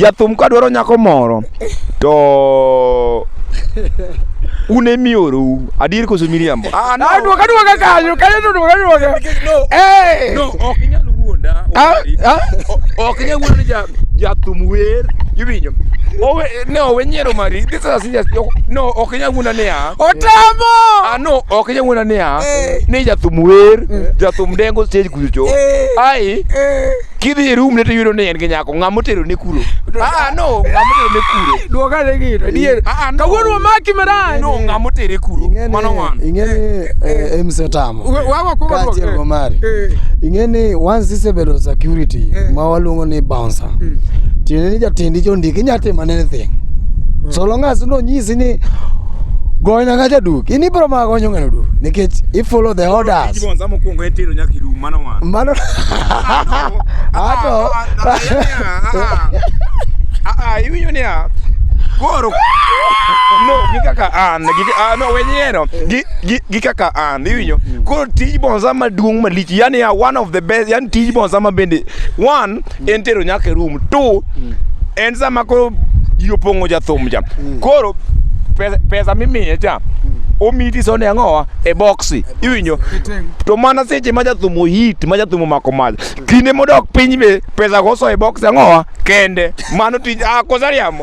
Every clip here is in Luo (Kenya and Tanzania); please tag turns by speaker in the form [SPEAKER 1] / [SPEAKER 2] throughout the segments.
[SPEAKER 1] jathum ka dwaro nyako moro to un emiorou adier koso miriambo ah, no. duoka duoka kanyo kanyo to duoka duoka eh. no ok inyal wuonda ah, ah. ok inyal wuonda ni jathum wer iwinjo owe ne owe nyiero mari this is a serious no ok inyal wuonda niya otamo no ok jang'wena niya eh. ni jathum wer eh. jathum dengo stage kucho eh. ai kidhi e room ne to yudo ni en gi nyako ng'a motero ne kuro ah no ng'a motero ne kuro duoga ne gino adier ah, ah, kawuono wamaki marach no ng'a motere kuro mano ng'wan ing'eni mse tamo kaachiel go mari ing'eni once isebedo security ma waluongo ni bouncer hmm. tiende ni jatindi chondiki inyatimo anything hmm. so long as nonyisi just ni goyo nyaka jaduk in ibro ma gonyo ng'ano duk nikech i follow the orders mano ato iwinyo niya koro no gi kaka an gi ah, no we nyiero gi gi kaka an iwinyo koro tij bonza maduong' malich yani ya one of the best yani tij bonza ma bende one en tero nyaka e room to mm. en sama koro ji opong'o jathum cha mm. koro pesa mimiye cha mm. omiti sone ang'owa e boksi iwinjo to mana seche ma jathum ohit ma jathum omako mach kinde modok piny be pesa go so e boksi ang'owa kende mano tij ah, kosariam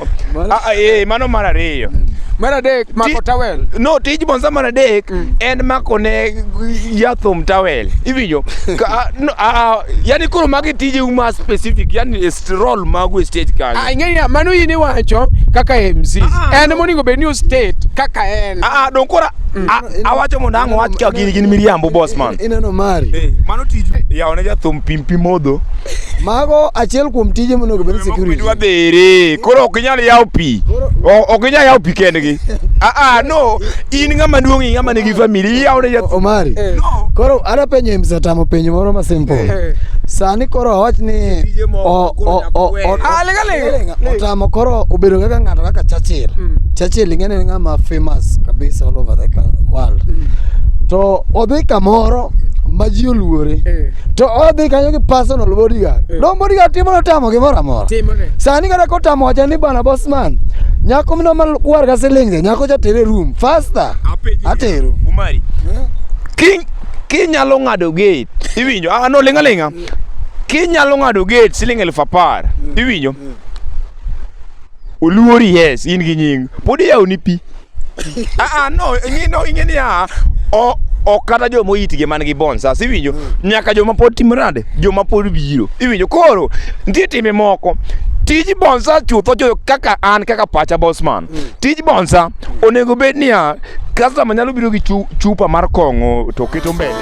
[SPEAKER 1] Ah, ah, eh, mano mar ariyo mm. mar adek mako tawel no tij bonza mar adek mm. en mako ne yathum tawel iwinjo ah, yani koro magi tije uma specific yani role magu e stage kanyo ah ing'eya mano in iwacho kaka MC en monego bed ni o state kaka en ah don kora mm. awacho mondo ang' wach ka gini gin miriambo boss man Ineno mari. Eh, mano tij ya one jathum pimpi modho. Mago achiel kuom tije monego bed security. Dwa dhere. Koro ok inyal yawo pi. Ok inyal yawo pi kendgi. Ah ah no, in ng'ama duong' in ng'ama nigi family yawo ne jathum. Omari. Eh. Koro ana penyo im satamo penyo moro ma simple. Eh. Sani koro awach ni o o o o. Ah, Otamo koro obedo kaka ng'ato kaka Churchill. Mm. Churchill ing'eni ni ng'ama famous kabisa all over the coun- world. Mm. To odhi kamoro ma ji oluore. Eh. To odhi kanyo gi personal bodyguard. Eh. Don bodyguard timo notamo gimoro amora. Timore. Sani kata kotamo wacha ni bana bossman. Nyako mno malwar ka silinge, nyako cha tere room faster. Atero. Umari. Ki kinyalo ng'ado gate iwinjo ah no linga linga kinyalo ng'ado gate siling elfu apar mm. iwinjo mm. oluori yes in gi nying pod iyawoni pi aa ah, ah, no ing'ino ing'e niya ok kata joma oyitgi man gi bons as iwinjo mm. nyaka joma pod timo nade joma pod biro iwinjo koro nitie timbe moko tij bonsa chutho jo kaka an kaka pacha bosman mm. tij bonsa onego bed niya customer nyalo biro gi chupa mar kong'o to keto mbele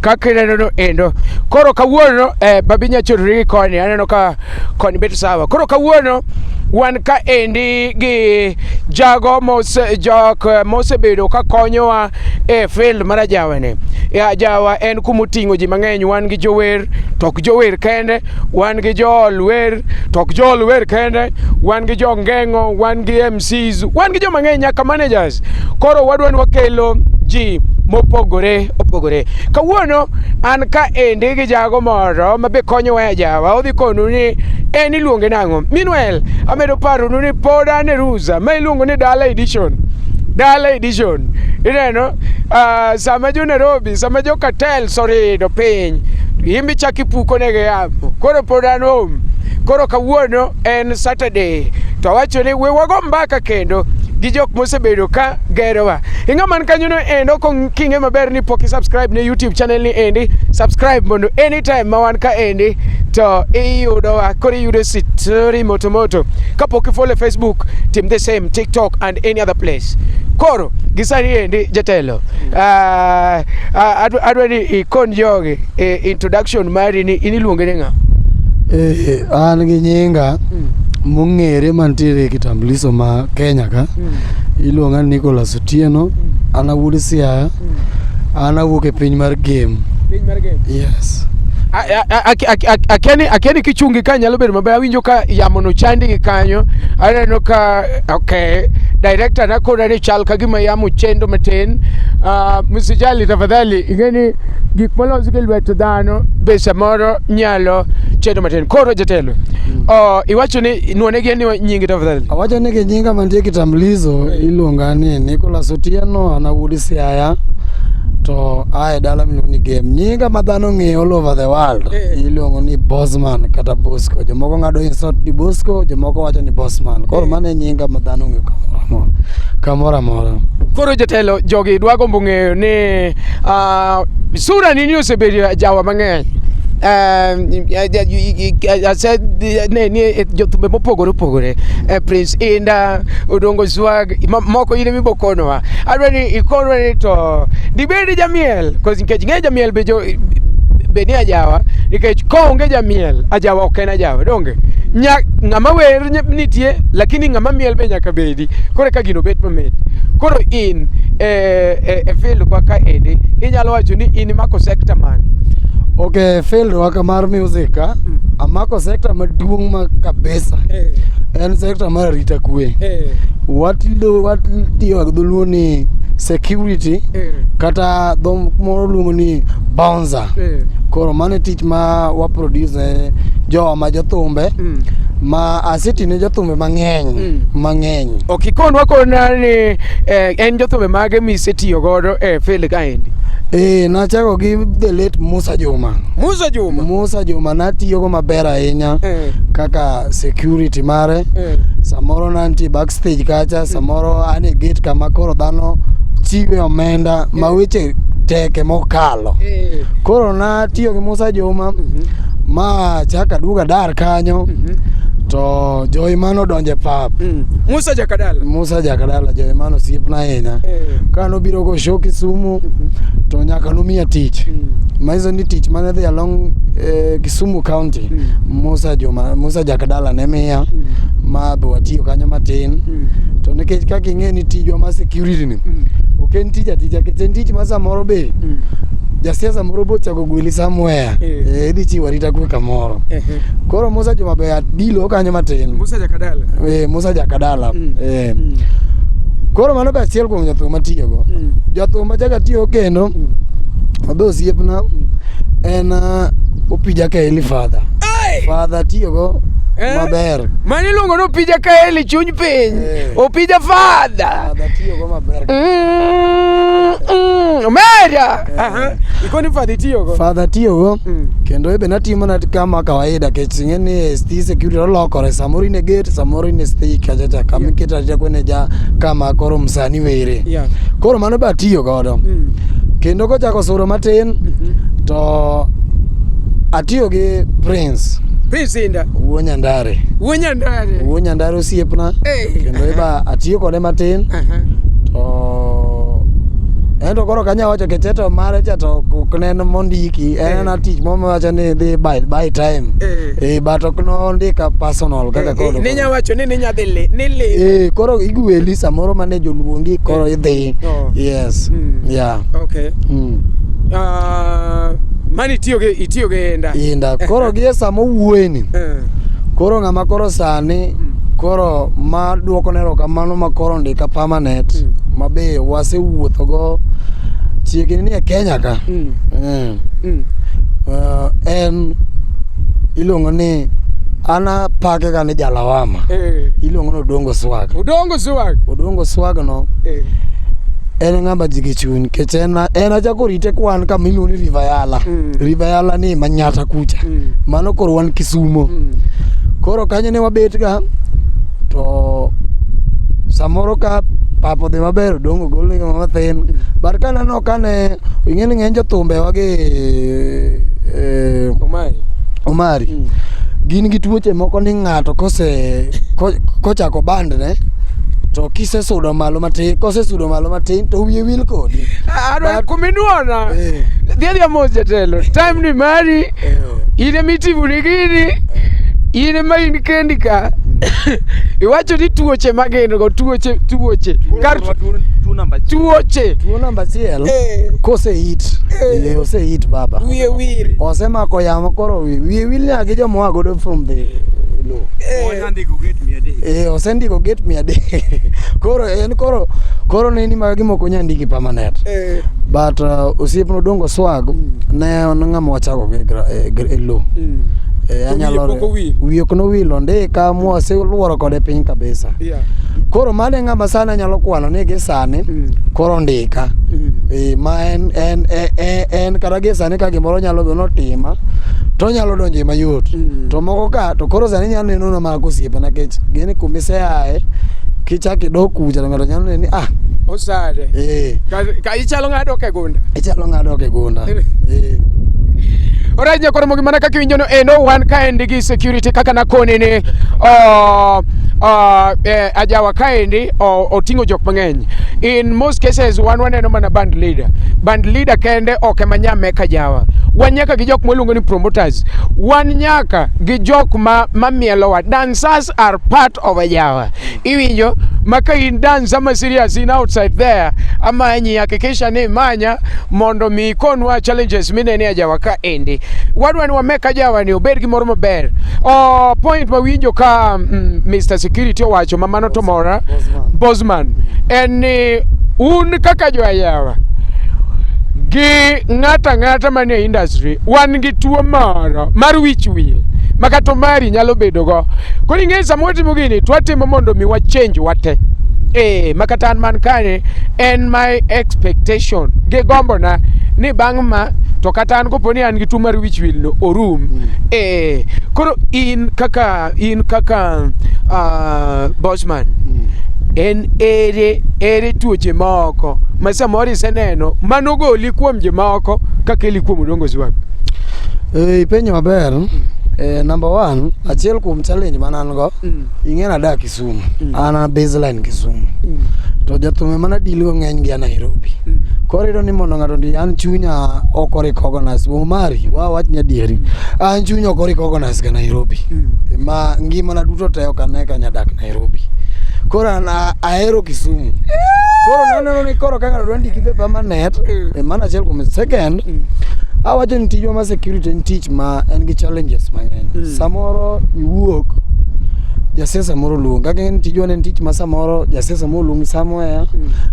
[SPEAKER 1] kaka ineno no endo. Koro kawuono eh, babi nyachorori gi koni, aneno ka koni bet sawa. Koro kawuono wan ka endi gi jago mose jok eh, mosebedo ka konyowa e field mar ajawa ni. E ajawa en kuma oting'o ji mang'eny, wan gi jower to ok jower kende, wan gi jool wer to ok jool wer kende, wan gi jongeng'o, wan gi KMCs. Wan gi jo mang'eny nyaka managers. Koro wadwa ni wakelo ji mopogore opogore. Kawuono an ka endi gi jago moro ma be konyowa e jawa, odhi konu ni en iluonge nang'o. Meanwhile, amedo paronu ni pod an e Ruza ma iluongo ni Dala Edition. Dala Edition. Ineno, ah, sama jo Nairobi, sama jo cartels orido piny, imbe chak ipuko negi yamo. Koro pod an home. Koro kawuono en Saturday to awacho ni we wago mbaka kendo gi jok mosebedo ka gerowa ing'a man kanyono endo king'e maber ni pok isubscribe ne youtube channel ni endi subscribe mondo anytime ma wan ka endi to iyudowa koro iyudo sitori motomoto kapok ifollow e facebook tim the same tiktok and any other place koro gisani endi jatelo ah, ah, adwa ni ikon jogi E, introduction mari ni in iluonge ni ng'a? Eh, an gi nyinga mm. mong'ere mantiere e kitambuliso ma Kenya ka mm. iluonga ni Nicholas Otieno mm. an awuod Siaya mm. an awuok e piny mar game. Piny mar game? Yes. akeni kichungi ka nyalo bedo maber awinjo ka yamo no chandi gi kanyo aneno ka okay director nakona ni chal ka gima yamo chendo matin uh, msijali tafadhali ingeni gik molos gi lwet dhano be samoro nyalo chedo matin. Koro jatelo, mm. oh, iwacho ni nuone gi ni nyingi tafadhali. Awacho ni gi nyinga mantie kitambulisho iluonga ni Nicholas Otieno ana wuod Siaya to ae dala miluongo ni game nyinga ma dhano ng'eyo all over the world eh. iluongo ni bosman kata bosco jomoko ng'ado insult ni bosco jomoko wacho ni bosman koro eh. mano e nyinga ma dhano ng'eyo kamoro amora kamoro amora koro jotelo jogi dwa gombo ng'eyo ni Uh, sura nini osebedo jawa mang'eny jothumbe mopogore opogore eh, prince inda odongo swag moko in emibo konowa adwa ni ikonwa ni to dibedi jamiel nikech ng'e jamiel be beni ajawa nikech koonge jamiel ajawa ok en ajawa donge ng'ama wer nitie lakini ng'ama miel be nyaka bedi kiti koro eka gino bet mamit koro in e, e, e field kwa ka endi inyalo wacho ni in imako sector mane okay field waka mar music ka Mm. amako sector maduong' ma kabisa eh, en sector mar arita kwe eh, watido watiyo gi dholuo ni security eh. kata dho moro luongo ni bound Nyanza. Eh. Koro mano e tich ma wa produce ne jowa ma jothumbe Mm. ma aseti ne jothumbe mang'eny Mm. mang'eny. Ok ikonwa kona ni eh, en jothumbe mage misetiyo godo e field kaendi. Eh, nachako gi the late Musa Juma. Musa Juma. Musa Juma natiyogo maber ahinya Eh. kaka security mare. Eh. Samoro nantie back stage kacha samoro an e gate kama koro dhano chiwe omenda ma weche teke mokalo Eh. koro natiyo gi musa juma Mhm. ma chaka duoga dar kanyo Mhm. to joiman odonje pap Mm. Musa Jakadala. musa jakadala joiman osiepna ahinya Eh. ka nobiro go show kisumu Mhm. to nyaka nomiya tich Mm. manyiso ni tich mane dhi along eh, kisumu county Mm. musa juma musa jakdala ne miya ma be watiyo kanyo matin to nikech kaka ing'e ni tijwa ma security ni ok en tich atija nikech en tich ma samoro be jasiasa moro bochako gweli somewhere Eh. eh, idhi chiwo arita kwe kamoro koro musa joma be adilo kanyo matin Musa Jakadala. eh, musa jakadala Mm. eh. Mm. koro mano be achiel kuom jathum matiyogo Mm. jathum machaka tiyo kendo mabe osiepna en ah, opija ka Father. Hey! Father tiyogo eh? maber. Mani luongo ni opija kaeli chuny piny. Eh. Opija father. Father tiyogo maber. Mm, mm, Omera. Eh. Aha. Ikoni father tiyogo. Father tiyogo. Mm. Kendo ebe natimo na kama kawaida kech ing'e ni sti security olokore samoro in e gate samoro in e sti kachacha kama iketa ja kwene ja kama koro msani were. Yeah. Koro mano be atiyogo. godo mm. kendo kochako suro matin mm-hmm. to atiyo gi prince prince inda wuo nyandare wuo nyandare wuo nyandare osiepna kendo iba atiyo kode matin to ento koro kanya wacho kecheto mare cha to ok nen mondiki en ana tich mo mawacho ni dhi by, by time e but ok nondika personal kaka koro ninya wacho ni ninya dhi ni li koro igweli samoro mane joluongi koro idhi Mike. Oh. Yes. Mm. Yeah. Okay. Mm. Uh, mani itiyo gi itiyo gi enda. Inda. Koro gie sama owuoyeni. Eh. Koro ng'ama koro sani Mm. koro ma duoko ne erokamano ma koro ndika permanent Mm. ma be wasewuothogo chiegni ni e Kenya ka. Mm. Mm. Mm. Uh, en iluongo ni ana pake ga ni jalawama Eh. iluongo ni odongo swaga Udongo Swag. Odongo swag no. Eh. En ng'ama ji gi chuny nikech en en achako rite kwan kama iluongo ni River Yala. Mm. River Yala ni Manyata kucha. Mm. Mano koro wan Kisumo. Mm. Koro kanyo ne wabet ga to samoro ka pap odhi maber odongo gol ni mathin. But ka aneno kane ing'e ni ng'eny jothumbewa gi eh, Omari. omari Mm. gin gi tuoche moko ni ng'ato kose ko- kochako bandne to kisesudo malo matin kosesudo malo matin to wiye wil kodi Adwa But- kuminuona. Eh. Dhiadhi amos jatelo. Time ni mari. in ema itimoni gini in ema in kendi ka iwacho ni tuoche magin go tuoche tuoche kar tuoche Tuo namba achiel Eh, koseit Eh. wiye oseit baba wiye wil osemako yamo koro wi- wiye wil nyaka gi jomoa godo from the low eh. Andiko gate mia adek. Eh, osendiko gate mia adek. koro en koro koro nini ma gimoko nya ndiki permanent. Eh. But uh, osiepno Odongo Swag mm. ne en ng'ama wachako gi e, e low. Mm. Eh, anyalo wiye ok nowil ondika mwase luoro kode piny kabisa yeah. koro mano e ng'ama sani anyalo kwano ni gi sani mm. koro ondika mm. e, ma en, en, en, en, en kata gi sani ka gimoro nyalo bedo notima to onyalo donjo e mayot mm. to moko ka to koro sani nyalo neno na mag osiepe nikech gini kumiseaye kichak idok kucha to ng'ato nyalo neno ni ah osade eh Ka- ka ichalo ng'ado ke gunda ichalo ng'ado ok e gunda eh Alright, nyakoro mogi mana kaka iwinjono eh, no wan kaendi gi security kaka nakoni ni oh, oh, eh, ajawa kaendi oh, oting'o jok mang'eny in most cases wan waneno mana band leader band leader kende ok ema nyame kajawa wan nyaka gi jok mwaluongo ni promoters us. Wan nyaka gi jok ma mamielowa. Dancers are part of a jawa. Iwinjo ma ka in dance ama serious in outside there amanyi hakikisha ni manya mondo mi ikonwa challenges minene a jawa ka endi. Wadwa ni wameka jawa ni obed gi moro maber. Oh, point ma winjo ka mm, Mr. Security owacho ma mano to mora Bosman en ni un kaka joyawa gi ng'ata ng'ata manie industry wan gi tuo moro mar wich wil ma kata omari nyalo bedogo. Koro ing'eyo sama watimo gini to watimo mondo mi wachenj wate. Eh, ma kata an man kani en my expectation gi gombona ni bang' ma to kata an kopo ni an gi tuo mar wich wil no orum. Eh, koro in kaka in kaka ah, Bosman en ere ere tuoche moko ma samoro iseneno manogoli kuom jomoko kaka ili kuom udongozi wag eh, ipenyo maber mm. Eh, number one achiel kuom challenge man an go mm. ing'e nadak Kisumu mm. an a baseline Kisumu mm. to jathume mana deal go ng'eny gi a Nairobi mm. koro iyudo ni mondo ng'ato ndi an chunya ok orikogonas Omari wa wach nyadieri mm. an chunya ok orikogonas ga Nairobi mm. ma ngimana duto te ok ane ka nyadak Nairobi. Koro an a- ahero Kisumu. Koro naneno ni koro kaka dwa ndiki be permanent, e mana achiel kuom second, awacho ni tijwa ma security en tich ma en gi challenges mang'eny. Mm. Samoro iwuok jasiasa moro luong kaka en tijwa ne en tich ma samoro jasiasa moro luongi somewhere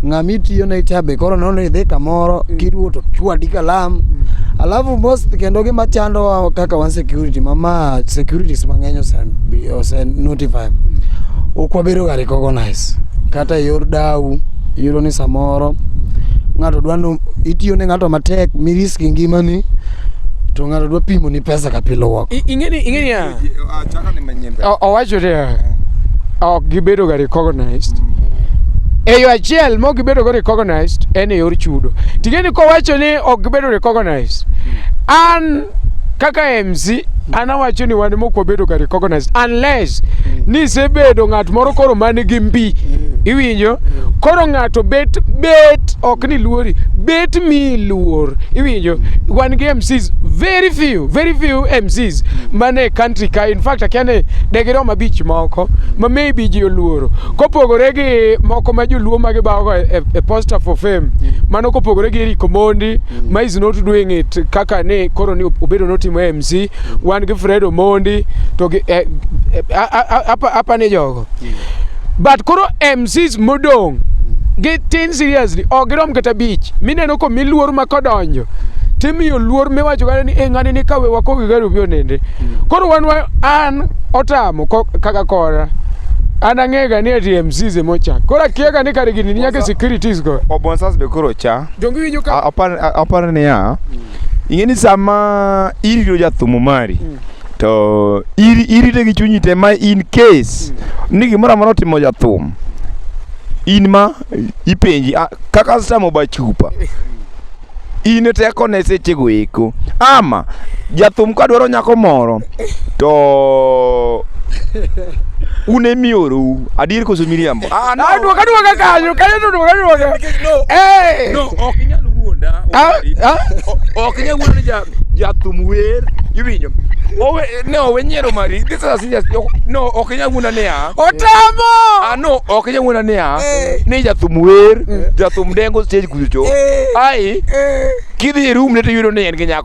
[SPEAKER 1] ng'ama itiyo ne cha be koro nono idhi kamoro kiduwo to chwadi kalam alafu most kendo gima chandowa kaka wan security mama securities mang'eny ose- bi- ose notify ok wabedo ga recognize kata e yor dau iyudo ni samoro ng'ato dwa no itiyo ne ng'ato matek mirisk ngimani to ng'ato dwa pimo ni pesa ka pile wako I- ing'eni ing'eni ya Achaka ni manyien O- owacho niya ok gibedo ga recognized e yo achiel mok gibedo go recognized en e yor chudo ting'eni kowacho ni ok gibedo recognized an kaka MC anawacho ni wan mok wabedo ka recognize unless nisebedo ng'at moro koro man gi mbi iwinjo koro ng'ato bet bet ok ni luori bet mi luor iwinjo wan gi MCs very few very few MCs mane country ka in fact akia ni degirom abich moko ma maybe ji oluoro kopogore gi moko ma joluo ma gibawogo e, e, e poster for fame mano kopogore gi Eric Omondi mm. Maize not doing it kaka ne koro ni obedo notimo MC mm. wan gi Fred Omondi to gi eh, eh, apa apa ne jogo mm. but koro MCs modong mm. gi tin seriously ok girom kata bich mineno ko miluor ma kodonjo timiyo luor miwacho kata ni e ng'ani ni kawe wakogi gari obi onende mm. koro wan an otamo kaka kora an ang'ega ni ati MCs emocha koro akiega ni kare gini nyaka securities go obonsas be koro cha Donge winjo ka A- apar a- apar niya ing'e ni sama irito jathumu mari to iri- irite gi chunyi te ma in case ni gimoro amora otimo jathum in ma ipenji "Ah, kaka samo ba chupa in tekone sechego eko ama jathum kadwaro nyako moro to un e miorou adier koso miriambo ah, no. duoka duoka kanyo kanyo to duoka duoka eh no ok inyal wuonda ah, ah. ok inyal wuonda ja jathum wer iwinjo owe ne owe nyiero mari this is a serious no ok inyal wuonda niya otamo ah no ok inyal wuonda niya eh. ni jathum wer eh. jathum dengo stage kucho eh. ai kidhi e room ne to yudo ni en gi nyako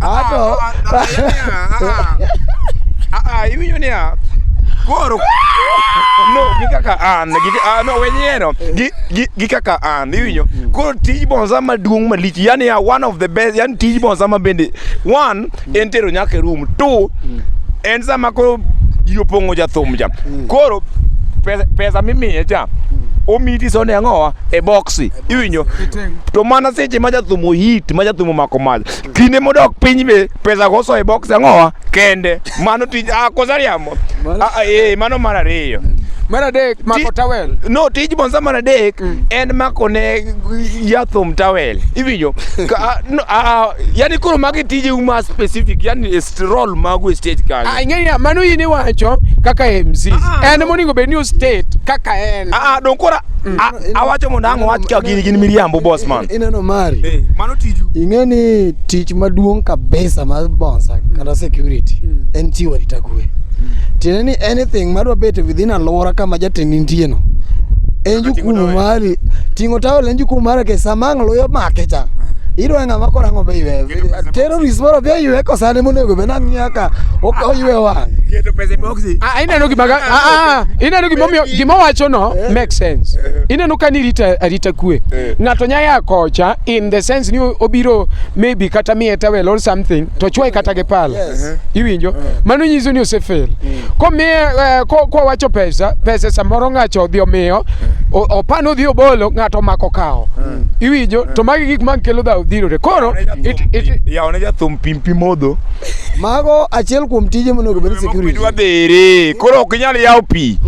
[SPEAKER 1] Ato. Ah, iwinjo niya. Koro no gi kaka an gi ah, no wenyeno gi gi- gi kaka an iwinjo koro tij bonza maduong' malich yani ya one of the best yani tij bonza ma bende one en tero nyaka e room two en sama koro ji opong'o jathum cha koro pesa, pesa mimiye cha omiti sone ang'owa e boksi iwinjo to mana seche ma jathumo hit ma jathumo mako mach kinde modok piny be pesa goso e box ang'owa kende mano tij ah, kosariamo ah, ah, eh, mano mar ariyo mar adek mako tawel no tij bonsa mar adek mm. en mako ne jathum tawel iwinjo yani koro magi tije uma specific yani last role magu e stage kanyo. Ah, ing'eya mano in iwacho kaka MC Ah, en monego bed ni ostate kaka en Ah, ah, don kora a- awacho mondo ang' wach ka gin gin miriambo boss man. ineno mari Eh, mano tiju. ing'e ni tich maduong' kabisa mar bonsa kata security en chiwo arita kwe tiende ni anything madwa bet within alwora kama jatend nitieno en jukumu mari ting'o tawel en jukumu mari ke sama ang' luyo make cha idwa ng'ama koro ang'o be iwe Tero Rismoro bia ywe ko sane monego be nang' nyaka oywe wang'. Keto pesa e boxi. Ah, ineno gima ga- ah, ah, ineno gima omiyo- gima wacho no make sense ineno ka ni rita arita kwe ng'ato nya ya kocha in the sense ni o- obiro maybe kata miye towel or something to chwae kata gi pala Yes. iwinjo mano nyiso ni osefail komiye eh, ko- kowacho pesa pesa samoro ng'acho odhi omiyo o- opano odhi obolo ng'ato omako kawo iwinjo to magi gik mag kelo dhawo dhirore koro yawne jathum pim pi modho mago achiel kuom tije monego bed security dwa dhere koro ok inyal yawo pi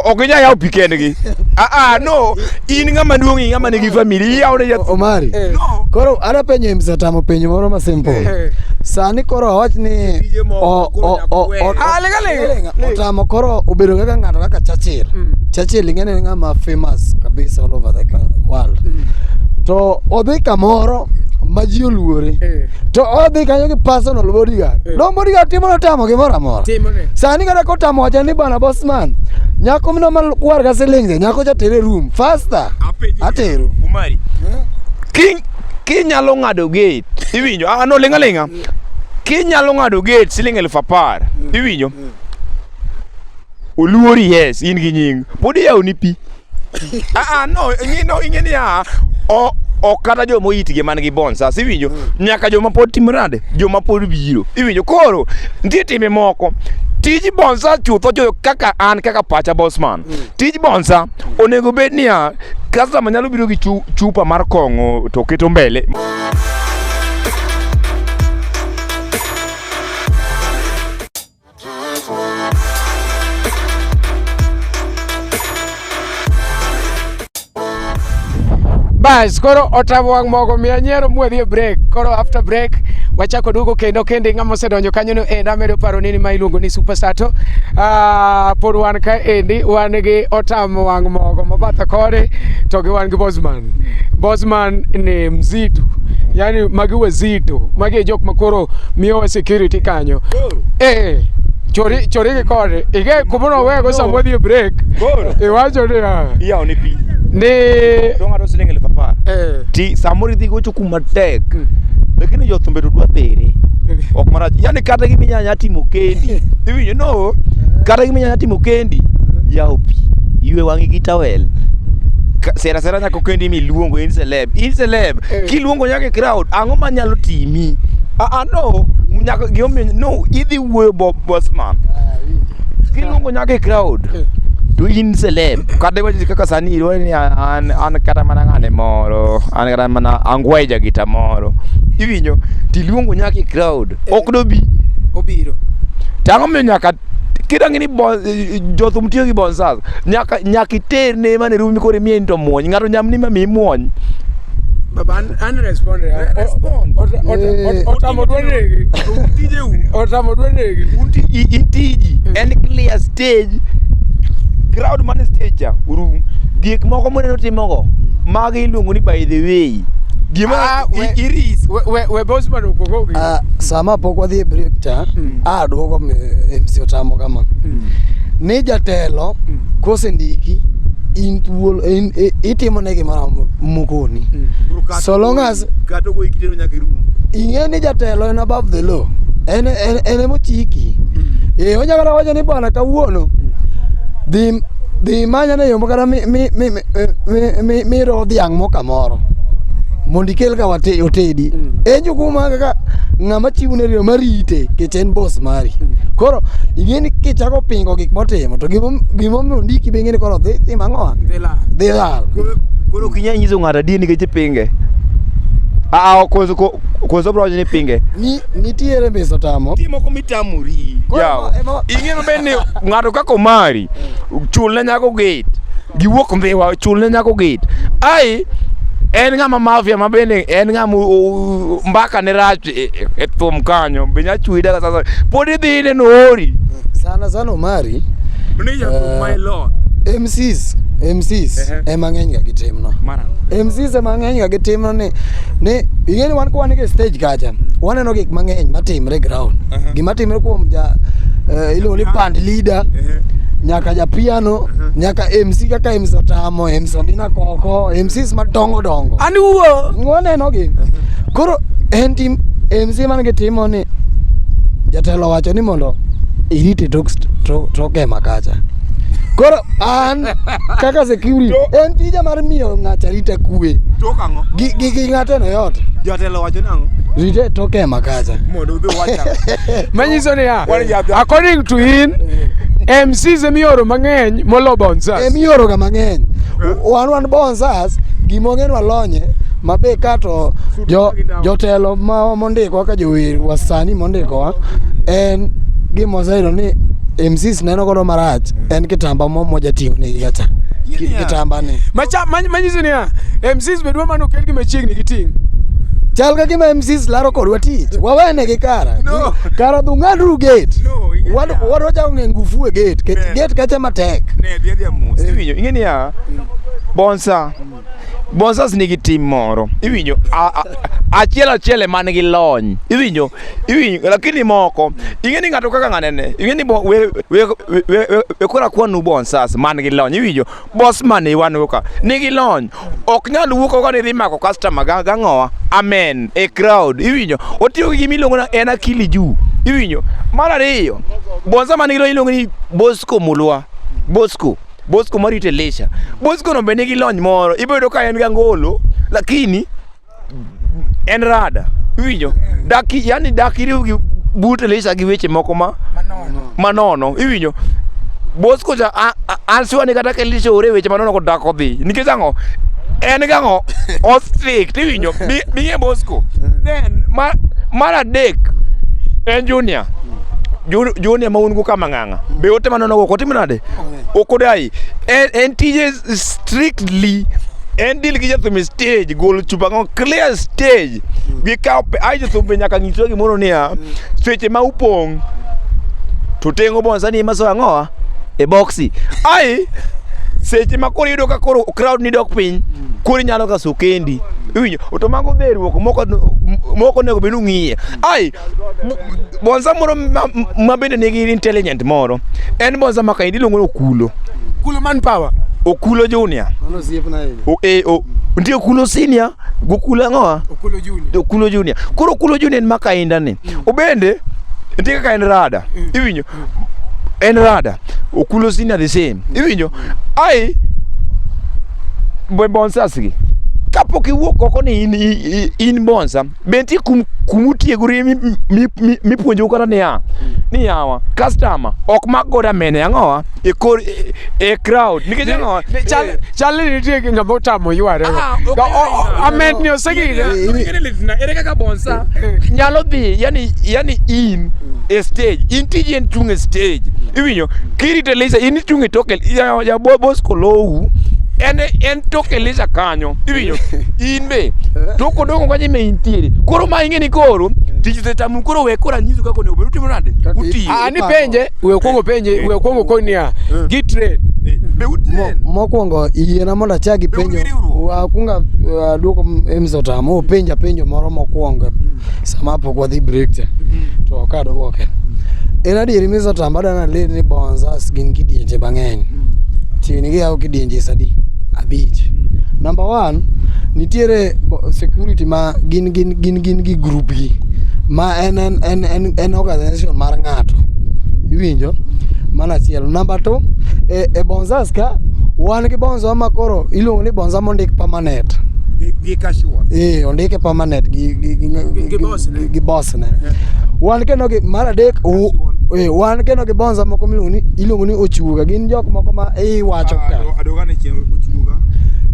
[SPEAKER 1] ok inyal yawo pi kendgi aa ah, ah, no in ng'ama duong' i ng'ama nigi famili iyawne jathum omari eh. koro ana penyo im satamo penyo moro ma simple eh, eh. sani koro awach ni otamo koro obedo kaka ng'ato kaka chachir mm. chachir ing'e ni ng'ama famous kabisa all over the world mm. to odhi kamoro ma ji oluore Eh. to odhi kanyo gi personal bodyguard Eh. no bodyguard timo notamo gimoro amora Timone. sani kata kotamo wacha ni bana bosman nyako mino malwar ka silinge nyako cha tere room faster atero Umari. Ki kinyalo ng'ado gate. Iwinjo? Ah no linga linga. Kinyalo ng'ado gate siling elfu apar. Iwinjo? Oluori yes in gi nying. Pod iyawo ni pi. Ah ah no ing'e no ing'e ni ah o o kata joma oyitgi man gi bonsa siwinjo nyaka joma pod timo nade joma pod biro iwinjo koro nitie timbe moko tij bonsa chutho jo kaka an kaka pacha bosman tij bonsa onego bed niya kastama nyalo biro gi chu- chupa mar kong'o to keto mbele Bas, koro otamo wang' mogo miya nyiero mwadhi e break. Koro after break wachako duogo kendo kende ng'ama osedonjo kanyo no enda medo paro nini ma iluongo ni Super Sato. Ah, pod wan ka endi wan gi otamo wang' mogo mabatha kode to gi wan gi Bosman. Bosman ni mzito yani magi wazito magi e jok makoro miyowa security kanyo eh chori chori gi kode ige kumono wego sama wadhi e break Koro. iwacho ni ah, Iyawo ne pi. ni Dong' ng'ato siling' elfu apar. eh Ti samoro idhi gocho kuma tek. Lakini jothumbe to dwa pere. Ok marach. Yaani kata gima inyalo nyalo timo kendi. Iwinjo no. Kata gima inyalo nyalo timo kendi. Yawo pi. Ywe wang'i gi towel. sera sera nyako kendi miluongo in celeb in celeb Eh. kiluongo nyaka e crowd ang'o manyalo timi ah ah, no nyaka gimomiyo no idhi wuoyo bo bosman kiluongo nyaka e crowd Eh. to in celeb kata iwacho kaka sani iluongo ni an an kata mana ng'ane moro an kata mana angweja gita moro iwinjo tiluongo nyaka e crowd ok dobi obiro to ang'o miyo nyaka kidang'e ni bon- jothum tiyo gi bonsas nyaka nyaka iterne mane rumi kore mie into muony ng'ato nyamni ma mi muony Baba, un- unrespond. Respond. Ota- ota- ota- Otamo dwa negi. Otamo dwa negi. Unti- i- itiji en clear stage crowd man stage cha uru gik moko moneno timogo mago iluongo ni by the way gima Ah, i- we- iris We- we- we boss man okoko gi. Ah, sama pok wadhi e break cha Mm. a duogo mi- MC Otamo kama ni jatelo mm. kosendiki in thuolo e, itimo ne gimoro mokoni mm. so long as ing'e ni jatelo en above the law en en emochiki mm. e onyalo kata wacho ni bwana kawuono dhi dhi manya ne yombo kata miro dhiang' mo kamoro mondo ikel ka otedi en jukumu kaka ng'ama chiwo ne riyo marite en boss mari koro ing'eni kichako pingo gik motimo to gimo- gimomiyo ondiki be ing'eni koro dhi tim ang'owa dhi lal Koro ok inyal nyiso ng'ato adier nikech ipinge. Aa, koso ko- koso bro ni pinge. Ni- nitiere miso tamo Nitie moko mitamori. Koro Yawa. ema- ema- Ing'e maber ni ng'ato kaka omari, chul ne nyako gate. Giwuok mbiwa, chul ne nyako gate. Ai, en ng'ama mafia ma bende en ng'ama o- o- mbaka ne rach e, e, e thum kanyo be nya chwi daga sasa pod idhi ine noori sana sana omari ni ja thum my lord mcs mcs Ehe. ema ng'eny ga gitimno mara mcs ema ng'eny ga gitimno ni ni ing'eni wan ka wan e stage kacha waneno gik mang'eny matimre e ground Aha. gima timre kuom ja eh, iluongo ni band leader Ehe. nyaka ja piano nyaka mc kaka mc otamo mc ondina koko mcs madongo dongo ani wuo wanenogi Koro en tim en si man gitimo ni jatelo wacho ni mondo irite tok tok ema kacha. Koro an kaka security en tija mar miyo ng'ato arita kwe. Tok ang'o? Gi gi gi ng'ato no yot. Jatelo wacho nang'o? Rite tok ema kacha. Mondo udhi wacha. Manyiso ni ya. According to in MCs emioro mang'eny molo bonzas. Emioro ga mang'eny. Eh. Wan wan bonzas Plus gima onge walonye mabe ka to jo, jotelo ma mondiko kaka jower wasani mondikowa en gima oseyudo ni MCs neno godo marach en kitamba mo mojating'o ne yacha Ki- kitamba ni Macha- ma- manyiso niya mcs be dwa mana okelgi machiegni gi ting' chal ka gima MCs laro kodwa tich wawene gi kara No. kara dhung'adru gate No, ing'e Wad- niya. wadwa chako ng'e ngufu e gate Ke- Eh. gate kacha matek Ne, dhi adhiya mos. Iwinjo, ing'e niya, Bonsa. Bonsas nigi tim moro. Iwinjo a- a- achiel achiel ema nigi lony. Iwinjo iwinjo lakini moko ing'e ni ng'ato kaka ng'anene. Ing'e ni bo- we we we- we- we- we kora kwanu bonsas man gi lony. Iwinjo boss man iwanu ka nigi lony. Ok nyal wuok ka ni dhi mako customer ga ga ng'owa. Amen. A crowd. Iwinjo otiyo gi gimiluongo na en akili juu. Iwinjo mar ariyo bonsa man gi lony iluongo ni Bosco Mulwa. Bosco. Bosco marito Elisha. Bosco no be nigi lony moro. Ibedo ka en gi angolo lakini en rada. Iwinjo? Daki yani daki riw gi but Elisha gi weche moko ma manono. Manono. Iwinjo? Bosco cha ansiwa ni kata Elisha ore weche manono ko dak odhi. Nikech ang'o? En gi ang'o? Osik. Iwinjo? Bi e Bosco. Then mar mar adek en Junior. Junior ma un go kama ng'ang'. be ote manono go kotimo nade okodai en, en tije strictly en deal gi jathum stage gol chupa ngo clear stage gi kawo pe ai jathum be nyaka nyiswa gimoro niya seche ma upong' to tengo bon sani ema so ang'owa e boxi ai seche ma koro iyudo ka koro crowd ni dok piny koro inyalo ka sokendi iwinjo to mago dheruok moko moko onego bed ni ung'iye ai bonza moro ma bende nigi intelligent moro en bonza ma kaendi iluongo ni okulo okulo man power okulo junior e, nitie okulo senior gi okulo ang'owa okulo junior koro okulo junior en ma kainda ni mm. obende nitie kaka en rada mm. iwinjo mm. en rada okulo senior the same iwinjo ai bonsasgi kapok iwuok oko ni in, in, in bonsa be nitie kum kumutiegorie mipuonjou kata niya ni yawa customer ok mak goda mene ang'owa e kor e, e crowd nikech ang'owa chal ni nitie ng'ama otamo yware ah, amed ni osegine ere kaka bonsa nyalo dhi yani yani in e stage in tiji en chung' e stage iwinyo kirite lisa in ichung' e toke ya bosco lowu en en toke lisa kanyo Iwinjo? In be tok odongo kanye me intiere. Koro ma ing'e ni koro tich osetamu koro we koro anyisu kaka onego bed utimo nade? Kaka Utiyo. Ah, ni penje, we okuongo penje, we okuongo koni niya, gi train. Be Mo- utiyo. mokwongo yiena mondo achak ipenjo Be un gi riwruok? wakunga aduoko mzotam openja penjo moro mokwongo sama pok wadhi break cha to kadwoke en adieri mzotam adana ler ni bonzas gin kidienje mang'eny Tieng' giyawo kidienje sadi abich. Number one, nitiere bo- security ma gin gin gin gin gi group gi ma en en en en, en organization mar ng'ato. Iwinjo? Mano achiel. Number two, e, e Bonzas ka wan gi bonzo ma koro iluongo ni bonza mondik permanent. Gi- gi casual. Eh, ondike permanent gi gi gi, Gi- gi boss ne. gi boss Arsenal. Wan kendo gi mar adek Eh, wan kendo gi bonza moko miluongo ni iluongo ni ochuga gin jok moko ma iwacho ah, ka adoga ne chieng ochuga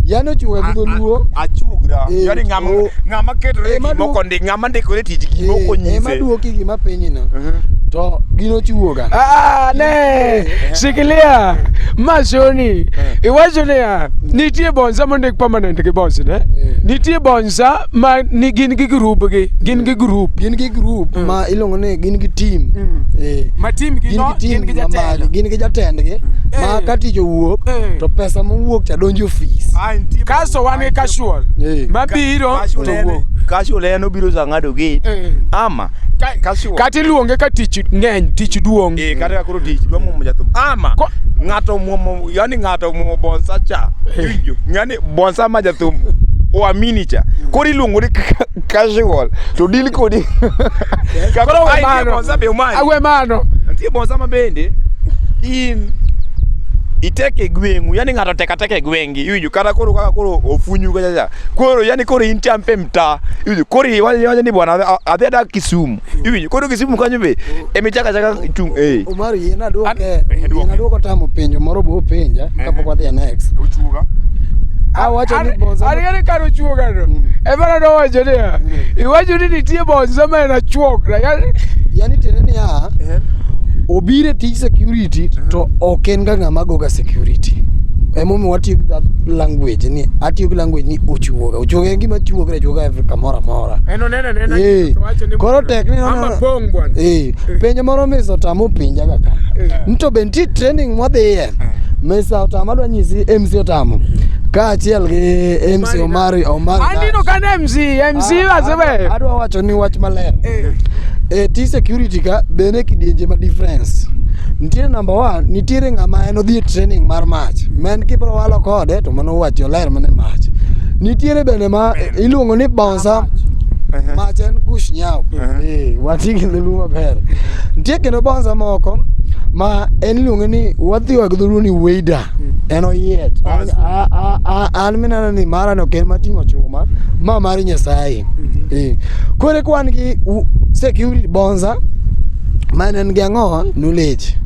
[SPEAKER 1] yani ochuga gi dholuo achugra eh, yani ngama oh. ngama ketore eh, moko ndi ngama ndikore tich gi moko nyise ema duoki gi ma piny no mhm. to gin ochuoga ah ne shikilia mashoni iwacho niya nitie bonza mondik permanent gi boss ne nitie bonza ma ni gin gi group gi gin gi group gin gi group mm. ma iluongo ni gin gi team mm. eh. ma team gi gin no, gi team gi jatelo gin gi jatend gi eh. ma ka tich owuok eh. to pesa mowuok cha donjo ofis kaso wan gi casual eh. ma biro to wuok casual en obiro sa ng'ado gi eh. ama kata iluonge ka tich ng'eny tich duong' eh, kata koro tich duong' momo jathum ama ng'ato muomo yani ng'ato muomo bonsa cha eh. bonsa ma jathum oa minicha koro iluongo ni ka- casual to dil kodi Ka- Koro we Ai, nitie mano. bonsa be umanyo. Awe mano. nitie bonsa ma bende in itek e gweng'u yani ng'ato tek atek e gweng'gi iwinjo kata koro kaka koro ofunyu kachacha koro yani koro in champe mta iwinjo koro iwacho ni bwana adhi- adhi adak kisumu iwinjo koro kisimu kanyo be emi chaka chaka chung eh Omar yie na duoke, An- eh, yie duoke. na duoko tamo penjo moro bo penja kapok wadhi e next. uchuga Awacho ni bonza. ariani kano chuoga no emana nowacho niya iwacho ni nitie bonza ma en achuok na yani Yani tiende ni ya obiro e tij security to ok en ga ng'ama goga security. Emomiyo watiyo gi that language ni atiyo gi language ni ochuoga. Ochuoga en gima chuoga chuoga every kamoro amora. en oneno Eh, koro tek ni eh, penjo moro misa otama opinja kaka eh. nto be nitie training mwadhiye misa otama adwa nyisi mc otamo kaachiel gi mc omari omarinino kan mc mc ah, asebe adwa wacho ni wach maler e ti security ka bende kidienje ma difference nitiere number one nitiere ng'ama en odhi e training mar mach ma en kibro walo kode to mano wacho ler mane mach nitiere bende ma iluongo ni Sa Ehe. mach en gush nyau Ehe. Eh, wati gi dholuo maber nitie kendo bonza moko ma en iluonge ni wadhiwa gi dholuo ni weida en oyiech An- a- a- a- an mineno ni mara no ken mating'o chuma ma mar nyasaye Eh, koro ka wan gi u- security bonza ma en gi ang'owa knowledge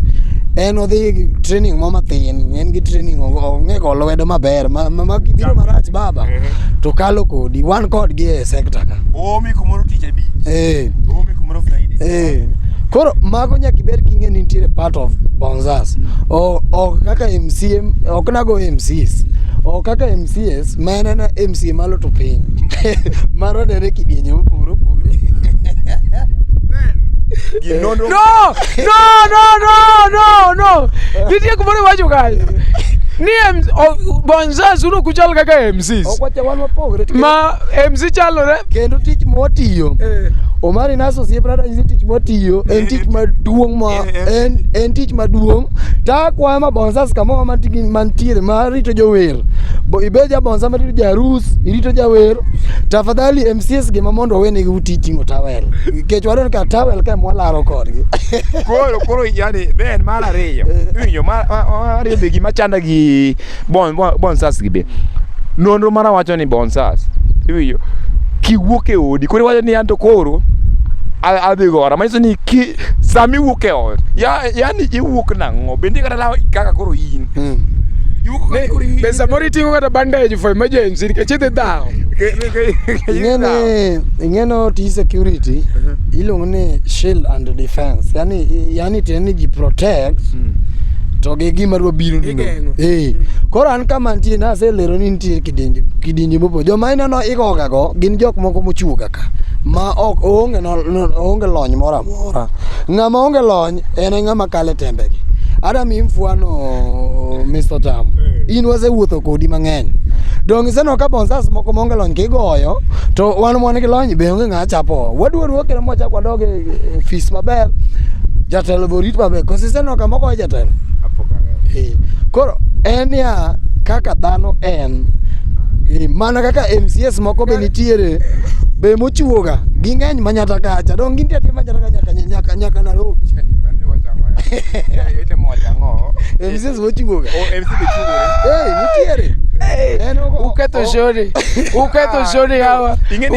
[SPEAKER 1] en odhi gi training mo mathin en gi training ong'e go lwedo maber ma ma- ma biro marach baba to kalo kodi wan kodgi e sekta ka oomi kumoro tich abich eh. oomi kumoro friday eh. koro mago nyaka ibed king'e ni nitiere part of bonzas mm. ok kaka mcm ok nago mcs ok kaka mcs ma en ena mca malo to piny marodere kidienye mopogore opogore Eh. No, no, no, no, no, no. Nitie kumoro iwacho kae. Ni Mzazi uno kuchal kaka MCs. Okwacha wan wapogre. to Ma MC chalore. Kendo tich mwatiyo. Eh. Omari naso sie brada nyisi tich mwatiyo. En tich maduong' ma en en tich maduong'. Ta kwa ma bonsas kama ma tigi mantiere ma rito jower. Bo ibeja bonsa ma rito jarus, irito jawer. Tafadhali MCs gi ma mondo wene gi titingo towel. Kech wadon ka towel ka mwalaro kodgi. Koro koro yani then mar ariyo. Iwinjo mar mar ariyo be gima chanda gi bon, bon, bonsas gi be nonro mara wacho ni bonsas iwinjo kiwuok e odi koro iwacho ni an to koro a- adhi gora manyiso ni ki sama iwuok e ot ya- yani iwuok nang'o bende kata law kaka koro in iwuok kaka koro in- Be samoro iting'o kata bandage for emergency nikech idhi dhawo. Ke- ke- ke- ke- ke- ing'eni ing'eno tij security iluongo ni shield and defense yani yani tiende ni ji protect to gi gima dwa biro Igeng'o. Eh. Koro an ka mantie na aselero ni nitie kidienje kidienje mopo. Joma ineno igoga go gin jok moko mochuoga ka. Ma ok onge no, no, onge lony moro amora. Ng'ama onge lony en e ng'ama kale tembegi. Ada mi mfwano Mr. Tam. Eh. In wasewuotho kodi mang'eny. Donge iseno ka bonsas moko monge lony kigoyo to wan mwan gi lony be onge ng'a chapo. Wadwa ruokere mwachak wadoge ofis maber jatelo be orit maber koso iseneno kama ogoyo jatelo Eh, koro en ya kaka dhano en Eh, mana kaka mcs moko be nitiere be mochiwoga ging'eny manyata kacha dong gintie atie manyata ka nyaka nyaka nyaka nairobi mcs mochiwoga Eh, nitiere En ogo- Uketho o- shoni. Uketho shoni hawa. Ing'eni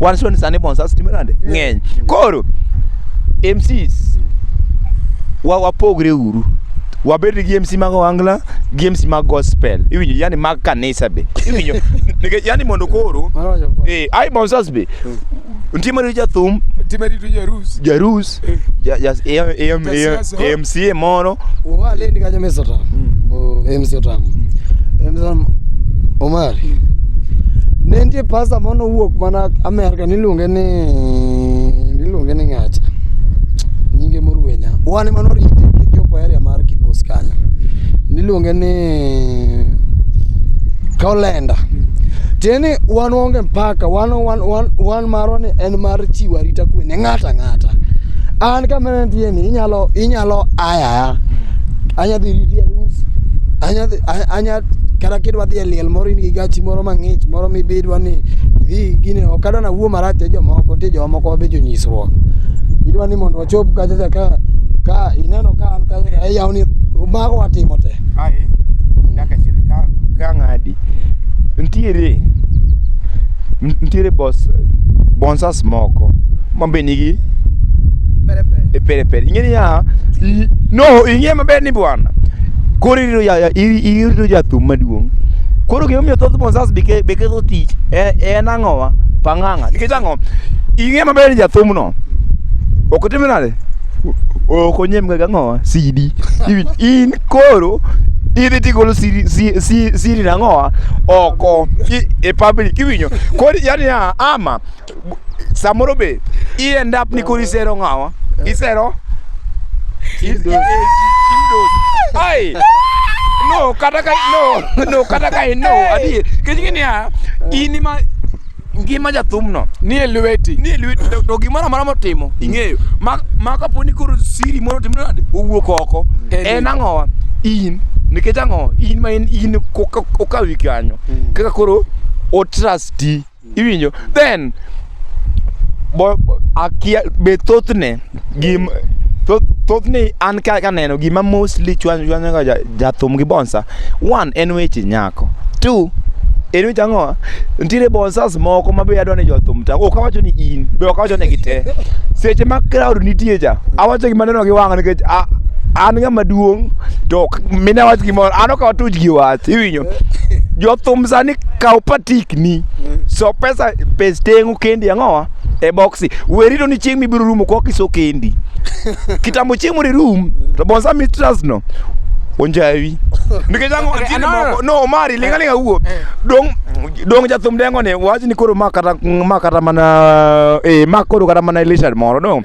[SPEAKER 1] wan soni sani bonsas timbe nade ng'eny koro mcs wa wapogre uru wabed gi MC mag Ohangla gi MC mag gospel iwinjo yani mag kanisa be iwinjo nikech yani mondo koro eh ai bonsas be nitie maritu jathum Time rito jarus. jarus Ja- ja- e- e- e- Jasiasa. e- mca moro wale ndikaja mesa ta msa ta msa omari ne nitie pasta moro nowuok mana amerka niluonge ni niluonge ni ng'acha nyinge moruenya wan ema norite kichopo area mar kibos kanyo niluonge ni kaolenda tieni wan waonge mpaka wan wan wan wan An marwa ni en mar chiwo arita kwe ne ng'ato ang'ata. An kama nantie ni inyalo inyalo ayaya. Anya dhi riti e rus. Anya dhi- a- anya kata kidwa dhi e liel moro in gi gachi moro mang'ich moro mibidwa ni idhi gini ok adwa nawuo marach ne jomoko nitie jomoko be jonyisruok. Idwa ni mondo wachop kacha cha ka ka ineno ka an kacha ka ayawni mago watimo te. Aye, dakika achiel ka ka ng'adi Ntiere ntiere bos bonsas moko ma be nigi e pere pere. Ing'e niya, i- no ing'e maber ni bwana. Koro irito ja ja- iri- irito jathum maduong'. Koro gima omiyo thoth bonsas be ke- be ketho tich e- en ang'owa? Pang'ang'a. Nikech ang'o? Ing'e maber ni jathumno ok otim nade? okonye mga gang'owa sidi Iwin- in koro idhi tigolo siri, si, si, siri nang'owa oko i- e public iwinyo koro yani ya, ama bu- samoro be i end up ni koro isero ng'awa isero i- i- i- kimdos. ai no kata ka no no kata ka no adier kech ng'e niya in ma ngima jathumno nie lweti nie lweti to gimoro amora motimo ing'eyo ma kapo ni koro siri moro timo nade owuok oko en ang'owa in nikech ang'o in ma in in okawi kanyo hmm. kaka koro o trasti iwinjo then be thothne gim thothni an ka kaneno gima mostly chwanyoga jathum gi bonsa one en weche nyako two en weche ang'owa nitiere bonsas moko ma be adwa ni jothum ta ok awacho ni in be ok awacho ni gite seche ma crowd nitie cha awacho gima neno gi wang' nikech an ng'ama duong' to mine wach gimoro an ok awatuch gi wach iwinyo jothum sani kaw patikni so pesa pes teng'u kendi ang'owa e boxi werito ni chieng' mibiro rumo kwa kiso kendi kitambo chieng' mori rum to bonsa mitras no onjawi nikech ang'o Okay, atiende no, no, moko no omari linga linga wuo eh. dong dong jathum dengo ni wach ni koro ma kata ma kata mana eh ma koro kata mana Elisha moro dong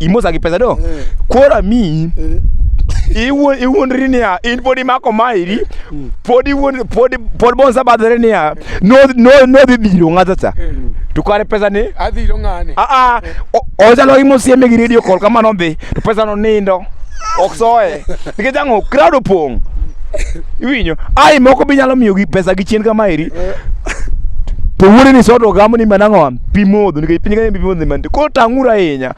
[SPEAKER 1] imosa gi pesa do koro amiyi iwuon iwuondri niya in pod imako mairi pod iwuon pod pod bonsa badhore niya no no no dhi dhiro ng'ata cha to kare pesa ni adhiro ng'ane a a o- ochalo gi mosieme gi radio call kamano dhi to pesa no nindo ok soye nikech ang'o crowd opong' iwinjo ai moko bi nyalo miyo gi pesa gi chien kamaeri to wuode ni soto gamo ni manang'o pi modho nikech piny kanye pi modho ni mantie koro tang'uru ahinya Kenya.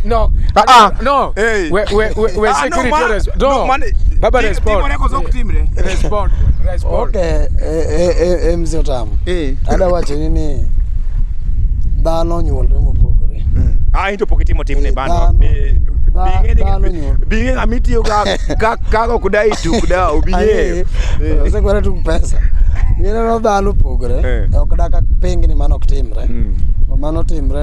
[SPEAKER 1] No. Ah, ah. No. Hey. We, we, we, we ah, security no, man, res- no, no man, baba respond. Eh, respond. Respond. Okay, eh, eh, eh, mzee Otamu. Eh. Ada wache nini? Dhano nyuolre mopogore. Mm. Ah, into pocket timo timne bano. Binge ng'ama itiyo kago kuda ituk da obing'eyo. Osekwere tuk pesa. Ng'e no dhano opogore. Ok dak pengni mano ok timre. Mm. Mano timre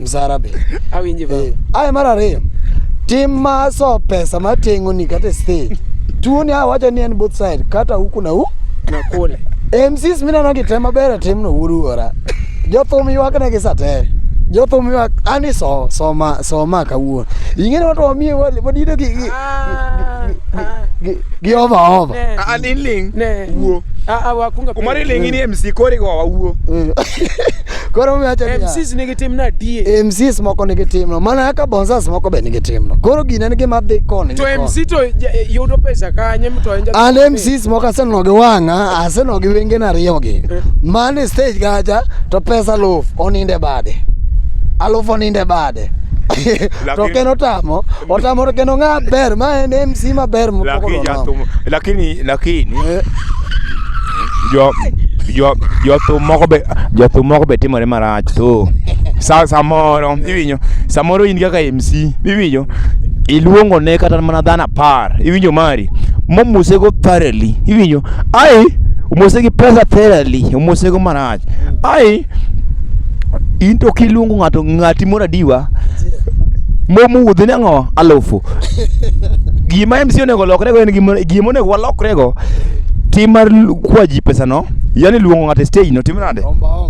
[SPEAKER 1] msarabe awinji baba eh, aye mar ariyo tim ma so pesa matengo ni kata state tuoni a wacho ni en both side kata huku na huku na kule MCs mineno gi te maber e timno wuruora jothum ywakne gi satere jothum ywak ani so soma soma kawuono ing'e ni watu wamiye wadido gi gi ah, ah. gi ova ova ani ling wuo ah, ah, wakunga kumari ling ni MC kori go wawuo eh. Koro umewacho niya. MCs nigi tim na die. Eh, MCs moko nigi timno mana kaka bonsas moko be nigi timno koro gini en gima dhi koni To MC to ja- eh, yudo pesa kanye mto en an MCs moko asenono gi wang'a asenono gi wengena ariyogi man e stage kacha to pesa aluf oninde bade aluf oninde bade to Lakini- kendo otamo otamo to kendo ng'a ber ma en MC maber mopoko lakini dona. jathum lakini lakini Eh. jo jo jothum moko be jothum moko be timore marach to sa samoro iwinjo samoro in kaka MC iwinjo iluongo ne kata mana dhano apar iwinjo mari momosego thoroughly iwinjo ai omosegi pesa thoroughly omosego marach ai into kiluongo ng'ato ng'ati moro adiwa momuwuodhi ni ang'o alufu gima MC onego lokrego en gima gima onego walokrego tim mar lu- kwa ji pesano yani luongo ng'ato e stage no tim nade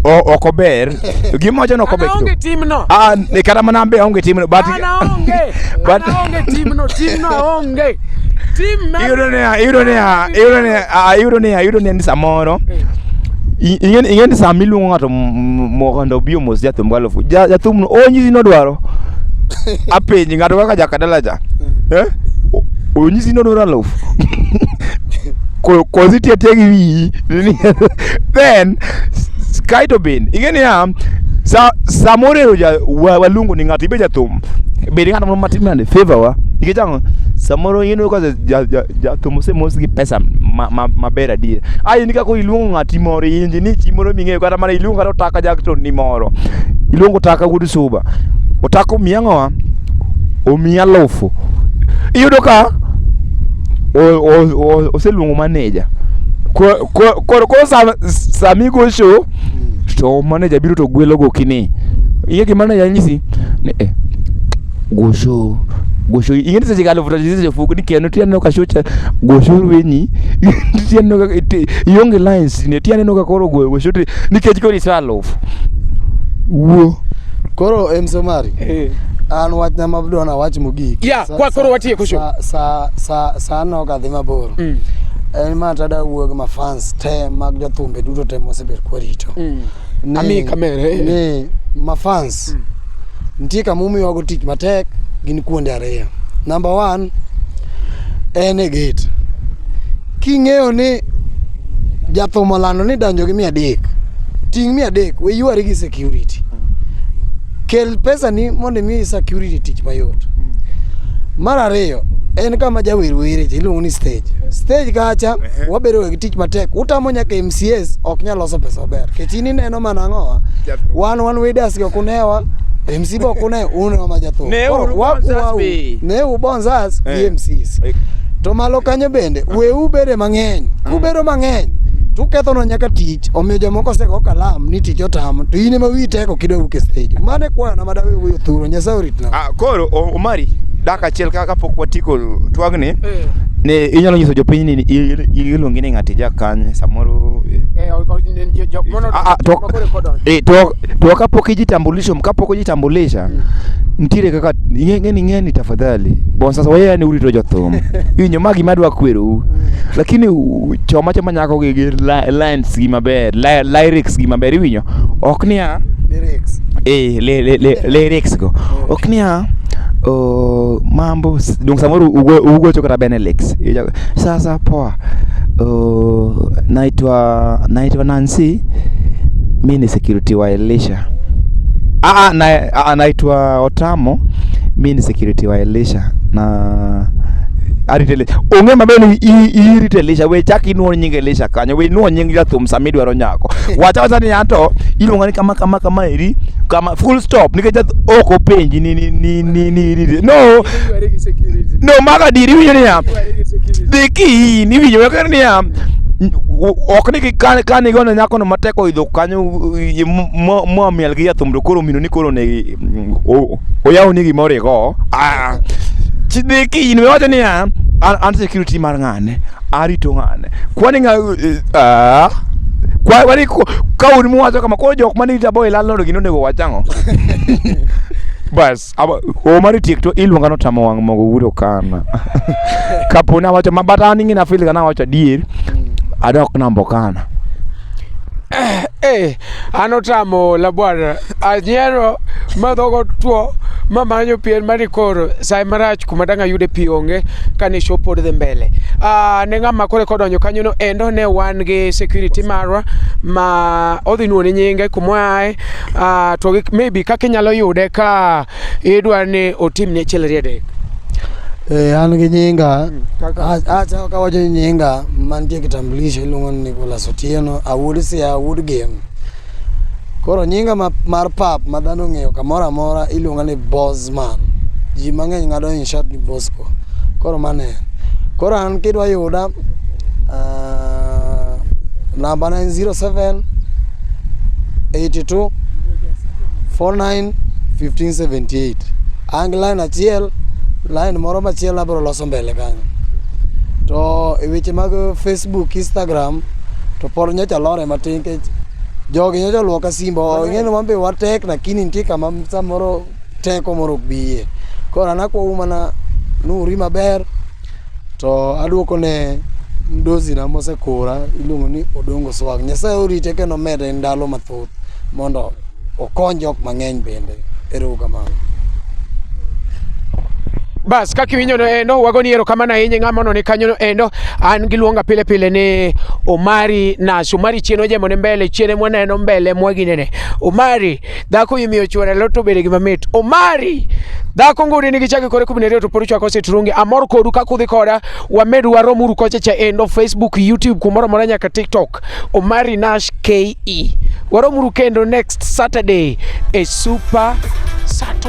[SPEAKER 1] O- ok ober gima wacho ni ok ober Ana onge timno. Ah, ni kata mana be aonge timno but Ana onge. but Ana onge timno. Timno aonge. Iyudo niya, iyudo niya, iyudo niya, ah, iyudo niya, iyudo niya ni samoro i- ing'e ing'e ni sama iluongo ng'ato m- mondo obi omos jathum galofu ja- jathumno onyisi nodwaro apenji ng'ato kaka jakadala cha eh? O- onyisi nodwaro alofu Ko- kosi itiyo atiya gi wiyi Ni- then s- s- kae to bende ing'e niya sa- samoro ero ja- wa- waluongo ni ng'ato ibe jathum bedo ng'at moro matin bende favor wa nikech ang'o samoro in ka jathum osemos gi pesa maber adier a in kaka iluongo ng'ati moro inji ni chi moro ming'eyo kata mana iluongo kata otaka jakton ni moro iluongo otaka wuod suba otaka omiya ang'owa omiya alufu iyudo ka oseluongo maneja koro samigo show to maneja biro to gwelogo kini ing'e gima naja nyisi eh gosho gosho ing'e ni seche ga alufu tachisi sefuku ni keno ti aneno ka shocha gosho wenyi ti aneno ka ti- ionge lines ne ti aneno ka koro goyo gosho ti nikech koro iso alufu wuo koro em somari an wachna mabdwa na wach mogik Ya, Sa- kwa- koro sa- watieko show. sa- sa- sa- sa anno kadhi mabor en ma tada wuog ma fans te mag jothumbe duto te mosebet kwarito ni, Ami kamera, eh. ni mafans nitie kama umiwago tich matek gin kuonde ariyo number one en e gate king'eyo ni jathum olando ni donjo gi mia adek ting' mia adek we ywari gi security Kel pesa ni mondo imi security tich mayot. Mar ariyo en kama jawer were cha iluongo ni stage. Stage kacha Ehe. wabedo gi tich matek. Utamo nyaka MCS ok nyal loso pesa maber. Kech in ineno mana ang'owa. Jathum. Wan wan wedas go kunewa. MC bo kune uno ma jathum. Ne Koro uru wa- Bonzas wa- be. Ne u bonzas gi Eh. MCs. Eh. To malo kanyo bende weu bede mang'eny. Kubedo mang'eny tukethono nyaka tich omiyo jomoko osego kalam ni tich stage otamo to in ema wiyi teko kidwa wuok e stage mane kwana ma dawe wuoyo thuro nyasaye oritna Ah, koro o- omari dak achiel ka- kapok watieko twagni Eh. ne inyalo nyiso jopiny ni il- il- iluongi ni ng'ati jakanye samoro eh, Eh, o- o- jo- jok mono- Ah, ah, to- makore kodon. eh, to to kapok ijitambulisho kapok ijitambulisha nitiere kaka ing'eni ing'eni tafadhali bon sasa wayani urito jothum iwinjo ma gima adwa kwerou lakini u- choma choma nyako gi gi lines gi maber lyrics gi maber iwinyo ok niya lyrics eh le le le lyrics go eh. ok niya oh, mambo donc samoro ugocho kata benelix sasa poa oh, naitwa naitwa nancy mi ni security wa elisha Ah, ah, na, ah, naitwa Otamo. Mi ni security wa Elisha na aritele onge mabe ni irite Elisha we chak inuo nying Elisha kanyo we inuo nying jathum sama idwaro nyako wacha wacha ni anto iluonga ni kama kama kama eri kama full stop nikech ok openji ni ni ni ni ni no no maga diri winyo niya dhi ki ni winyo wakani niya ok ni kane kane gona nyako no matek oidho kanyo mwamiel gi jathum to koro mino ni koro negi oyaw ni gima origo ah, chidhi kinyini wacho niya an security mar ng'ane arito ng'ane kwani ng'a eh, ah, kwani ka un muwacho kama koro jok mane ita boy landlord gino onego wachang'o bas Aba o mari tiek to iluonga no tamo wang' mogo wuro kana. Kapo na wacho mabata ni ngina feel kana wacho adier. Mm. Adok nambo kana. Eh, eh an otamo labwara anyiero ma dhogo two ma manyo pien mari koro sai marach kuma dang' ayude pi onge kane show pod dhi mbele ah, ne ng'ama kore kodonjo kanyono endo ne wan gi security marwa ma odhi nuone nyinge kuma oaye Uh, to maybe kaka inyalo yude ka idwa ni otim ne chel riedek Eh, an gi nyinga acha kawacho ni nyinga mantie kitambulisho iluongo ni Nicholas Otieno awuod sia awuod gem koro nyinga ma, mar pap ma dhano ong'eyo kamoro amora iluonga ni Bosman ji mang'eny ng'ado in short ni Bosco koro mane koro an kidwa yuda Uh, number 907 82 49 1578 ang line achiel line moro machielo abiro loso mbele kanyo to e weche mag facebook instagram to pod nyocha lore matin nikech jogi nyocha luoka simbo ing'eni wan be watek lakini nitie kama samoro teko moro ok biye koro anakwou mana nuri maber To aduoko ne mdosi na mosekura iluongo ni Odongo Swag. Nyasaye orite kendo mede ndalo mathoth mondo okony jok mang'eny bende. Ero kamano. Bas kaka iwinjo no endo wago ni ero kamano ahinya ng'ama no ni kanyo no endo an giluonga pile pile ni Omari Nas Omari chien ojemo ne mbele chien mwaneno mbele mwaginene Omari dhako imiyo chuore leo to bede gima mit omari dhako ngudi nigi chake kore kumi nariyo to pod chwako sitrungi amor kodu kaka udhi koda wamed waromuru kocha cha endo facebook youtube kumoro amora nyaka tiktok omari nash ke waromuru kendo next saturday e super sato